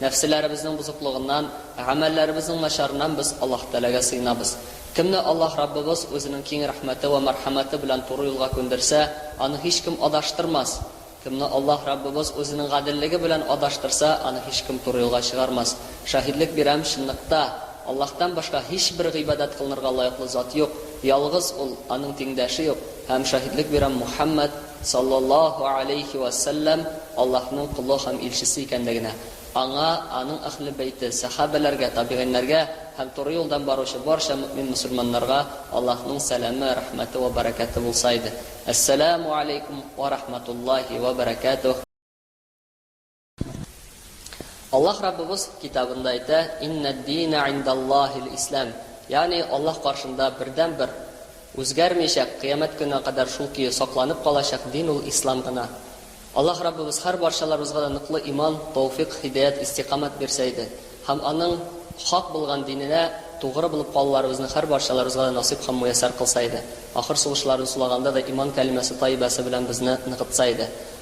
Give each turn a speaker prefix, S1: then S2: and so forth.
S1: Нәфселәребезнең бозыклыгыннан, гамәлләребезнең начарыннан без Аллаһ Тәгаләгә сыенабыз. Кемне Аллаһ Раббыбыз Үзенең киң рәхмәте вә мәрхәмәте белән туры юлга күндерсә, аны һичкем адаштырмас. Кемне Аллаһ Раббыбыз Үзенең гаделлеге белән адаштырса, аны һичкем туры юлга чыгармас. Шаһидлек бирәм, чынлыкта, Аллаһтан башка һичбер гыйбадәт кылынырга лаеклы зат юк, ялгыз Ул, Аның тиңдәше юк, һәм шаһидлек бирәм, Мухәммәд, саллаллаһу галәйһи вә сәлләм Аллаһның колы һәм илчесе икәнлегенә, аңа, аның әһле бәйте, сәхабәләргә, табигыйньләргә һәм туры юлдан баручы барча мөэмин-мөселманнарга Аллаһның сәламе, рәхмәте вә бәрәкәте булса иде. Әссәләмү галәйкүм вә рәхмәтуллаһи вә бәрәкәтүһ. Аллаһ Раббыбыз Китабында әйтә, Иннәд-дина индаллаһил ислам, ягъни Аллаһ каршында бердәнбер, үзгәрмичәк, кыямәт көненә кадәр шул көе сакланып калачак дин ул ислам гына. Аллаһ Раббыбыз һәр барчаларыбызга да ныклы иман, тауфикъ, һидаят, истикамәт бирсә иде, һәм Аның хак булган диненә тугры булып калуларыбызны һәр барчаларыбызга да насыйп һәм муяссәр кылса иде. Ахыр сулышларын сулаганда да иман кәлимәсе таибәсе белән безне ныгытса иде.